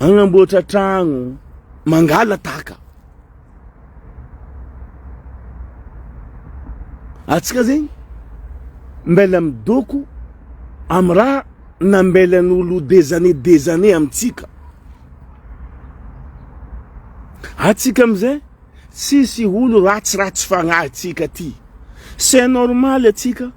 Agnamboatra tragno, mangalataka. Atsika zegny mbela midoko amin'ny raha nambelan'olo des années des années amintsika. Atsika amizay tsisy olo ratsiratsy fagnahy atsika ty. C'est normal atsika.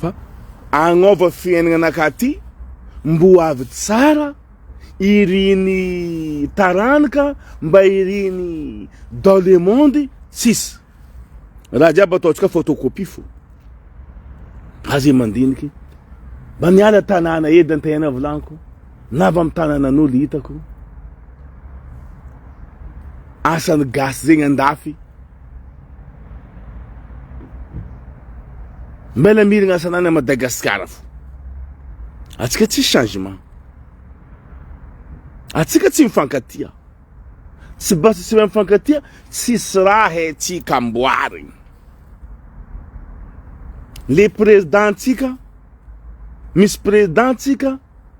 Fa agnova fiaignana ankaty mbo avy tsara iriny taranaka mba iriny dans le monde tsisy raha jiaby ataontsika photocopie fo aze mandiniky mba miala tanàna edy an-tegna volaniko na avy amin'ny tanànan'olo hitako asan'ny gasy zegny andafy Mbela mirigna sanany à Madagascar fo. Atsika tsy changement. Atsika tsy mifankatia. Tsy basa tsy mifankatia, tsisy raha haintsika amboarigny. Le président tsika, misy président tsika,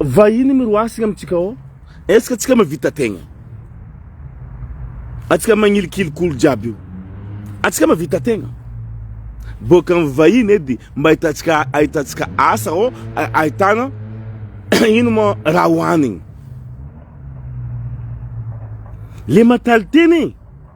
Vahiny miroasina amintsika ao, est-ce que antsika mavita tegna? Antsika magnilikiliky olo jiaby io, antsika mavita tegna? Boaka amin'ny vahiny edy mba ahitantsika ahitantsika asa ao, ahitana ino ma raha hohanigny. Le mentalité-ny e!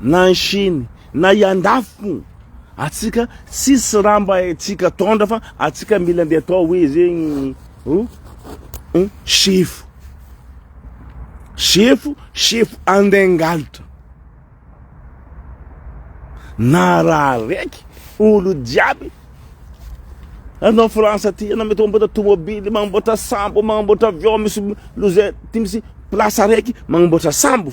Na any Chine, na i andafy atsika tsisy raha mba haintsika tondra fa atsika mila ndeha atao hoe zegny oh sefo, sefo, sefo andengalitra, na raha raiky olo jiaby anao France aty anao mety mamboatra tomobily, mamboatra sambo, mamboatra avion misy lozin, ty misy place araiky mamboatra sambo.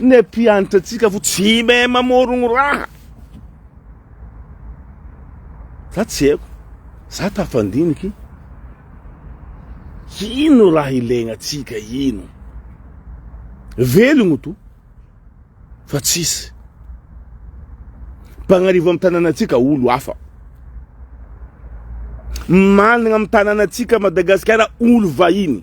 Ny mpiantra tsika vo tsy mahay mamorogno raha. Za tsy haiko, za tafandiniky ino raha ilaigna antsika ino? Velogno to fa tsisy mpagnarivo am tananatsika olo hafa. Managna am tananatsika Madagasikara olo vahiny.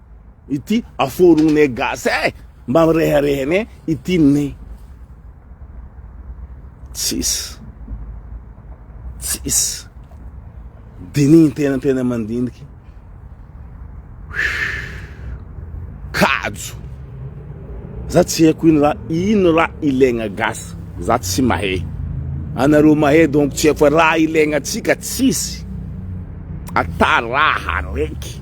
Ity aforognay gasy eh! Mba mireharehanay ity ney. Tsisy. Tsisy. Dinihin tena tena mandiniky. Kajo. Za tsy haiko ino raha ino raha ilaigna gasy. Za tsy mahay. Anareo mahay donc tsy haiko fa raha ilaigna antsika tsisy. Ata raha raiky.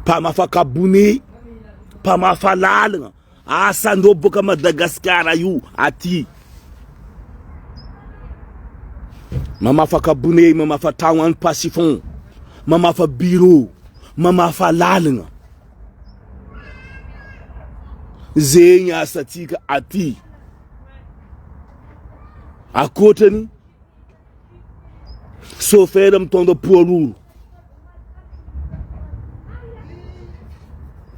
Mpamafakabony, mpamafa lalana, asan'ireo boka Madagasikara io aty. Mamafa kabone, mamafa tragno en passifon, mamafa bureau, mamafa lalana. Zegny asantsika aty. Akoatrany Chauffeur mitondra poids lourd.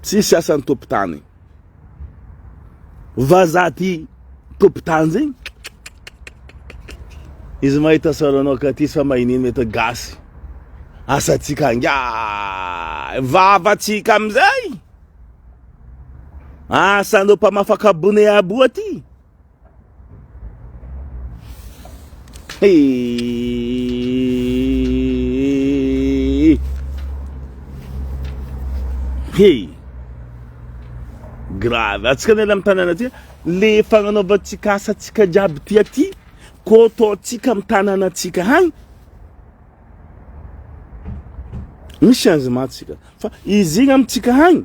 Tsisy asan'ny tompon-tany. Vazaha ty tompon-tany zegny. Izy mahita saranao ka ty sa magnino mety gasy. Asantsika angaha vavantsika amin'izay. Asan'ireo mpamafaka bone aboa ty. Hey! Hey! Grave. Atsika anela amin'ny tanàna aty. Le fagnanaovantsika asantsika jiaby ty aty, ko ataontsika amin'ny tanànantsika hany. Misy changement tsika. Fa izy igny amintsika hany.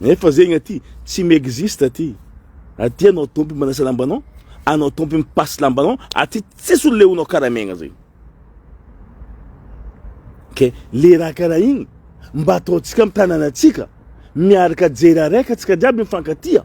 Nefa zegny aty tsy mi-existe aty. Aty anao tompo manasa lambanao, anao tompo mipasy lambanao, aty tsisy olona leonao karaha megna zegny. Ke le raha karaha igny mba ataontsika amin'ny tanànantsika miaraka jery araiky antsika jiaby mifankatia.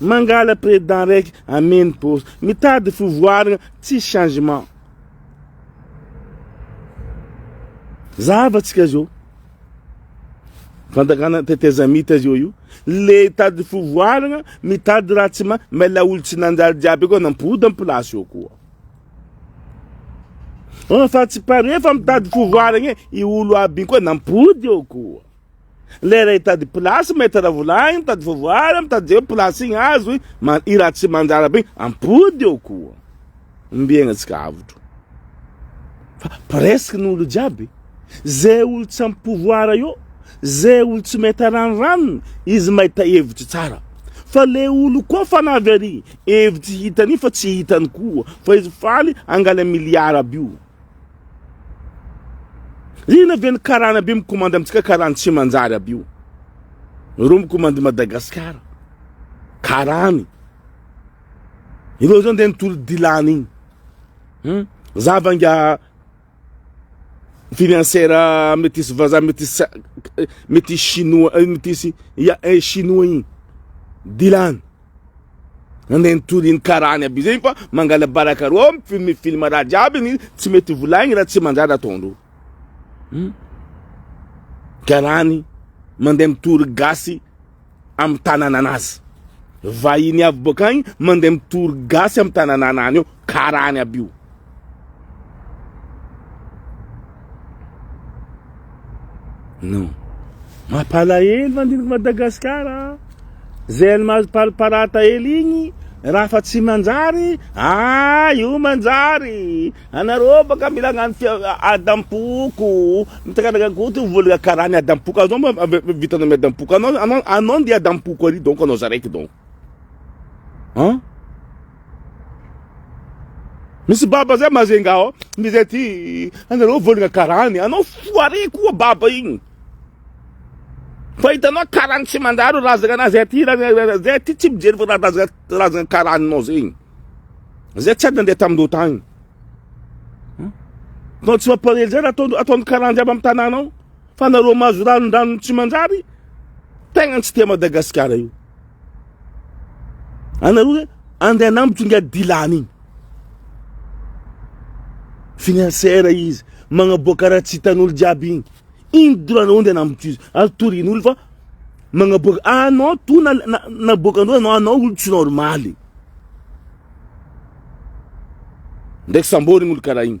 Mangala président raiky ameno poste. Mitady fivoaragna tsy changement. Zava tsika zao. Fandakana tetezamita zao io. Le tady fivoaragna mitady raha tsy ma mela olo tsy nanjary jiaby koa nampody am place eo koa. Oh, fa tsy pare fa mitady fivoaragna e. I olo aby koa nampody eo koa. Lera hitady place maître Ravolahiny mitady voavoara mitady zay place igny azo i Ratsimanjarabe igny ampody eo koa ombiegna tsika avotro fa presque ny olo jiaby zay olo tsy ampy pouvoir eo zay olo tsy mahita ranoranony izy mahita hevitry tsara fa le olo koa fa navy ary hevitry hitany fa tsy hitany koa fa izy faly angala miliara aby io Inona ve ny karana be mikomandy amintsika karany tsy manjary aby io. Ireo mikomandy Madagasikara. Karany. Ireo zany dia nitory dilany iny. Hmm? Zava nga financière métis vaza métis métis chinois euh, métis ya eh, chinois iny. Dilany. Nandeha nitory iny karany aby izay fa mangalabaraka roa mi film raha jiaby ny tsy mety ho volaigny raha tsy manjary ataondreo. Hum. Karany mandeha mitory gasy amin'ny tanananazy. Vahiny avy boakagny mandeha mitory gasy amin'ny tanananany eo karany aby io. Non. Mampalahelo mandiniky Madagasikara. Zay ny mahazo parata hely igny raha fa tsy manjary, ah io manjary. Anareo baka mila agnano adam-poko, mitakaraka goty vola karany adam-poko anao vitanao ny adam-poko anao anao anao ndeha adam-poko ary donc anao zaraiky donc. Hein? Misy baba zay mazenga ao, misy zay ty anareo volagna karany, anao foire koa baba igny. Fa hitanao karany tsy mandalo razagna anao zay ty zay ty tsy mijery razagna razagna karaninao zegny. Zay tsy ady nandeha tamin-doha tagny. Nao tsy mampalahelo zay raha ataon-karany jiaby amin'ny tanàna ao. Fa nareo mahazo ranondranony tsy manjary tegna tsy tia Madagasikara io. Anareo hoe andeha hanambotry inga dilany igny. Financière izy, magnaboaka raha tsy hitan'olo jiaby igny. Igny doranareo andeha hanambotry izy. Ary torian'olo fa magnaboaka anao to na naboakan'olo anao anao olo tsy normaly. Ndraiky samborigny olo karaha igny.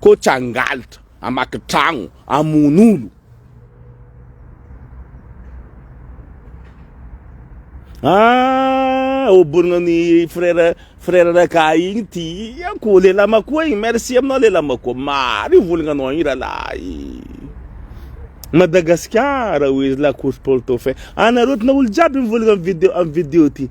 Coach hangaltra, hamaky tragno, hamono olo. Ah, oborigna ny frère frère raka igny tiako lehilahy makoa igny merci aminao lehilahy makoa maro io volagnanao igny rahalahy Madagasikara oe la course pour le dauphin anareo tena olo jiaby mivolagna am video am video ty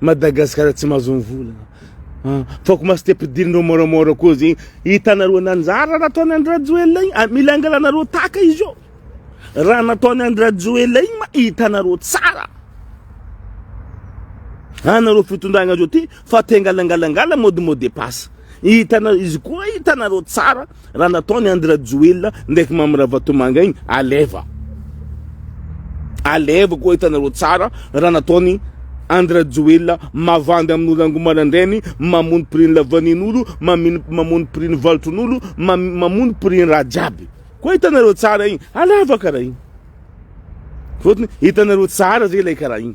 Madagascar tsy mahazo ny vola fa ko maste pidirinreo moramora ko zegny hitanareo nanjara raha ataony andry rajoelina igny ah, mila angalanareo taka izy io raha nataony andry rajoelina igny ma hitanareo tsara anareo fitondragna zao ty fa te angalangalangala mody mody passe hitanareo izy koa hitanareo tsara Raha nataony Andry Rajoelina ndraiky Mamy Ravatomanga igny, aleva. Aleva koa hitanareo tsara raha nataony Andry Rajoelina mavandy amin'olo ango marandrainy, mamono prix-ny lavanin'olo, mamin- mamono prix-ny valotron'olo, mam- mamono prix-ny raha jiaby. Koa hitanareo tsara igny, aleva karaha igny. Fôtony hitanareo tsara zay ilay karaha igny.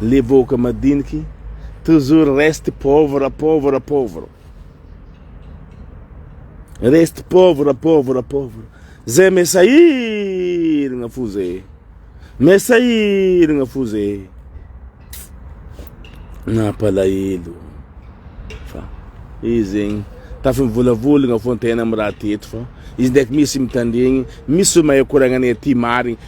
Le vahoaka madiniky toujours reste pauvre pauvre pauvre reste pauvre pauvre pauvre zay me sahiragna fo zay me sahiragna fo zay nampalahelo fa izy zegny tafimivolavolagna fo ny tegna am raha teto fa izy ndraiky misy mitandregny misy mahay koragna anay aty marigny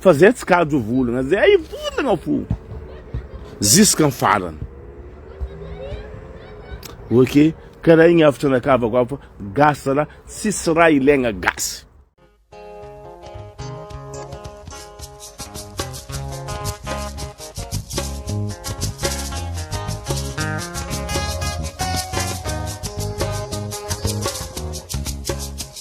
Fa zay tsy kajo volana zay ay volana fo ziska ny farany ok karaha igny avy tranakavako avy fa gasy zalahy tsisy raha ilaigna gasy.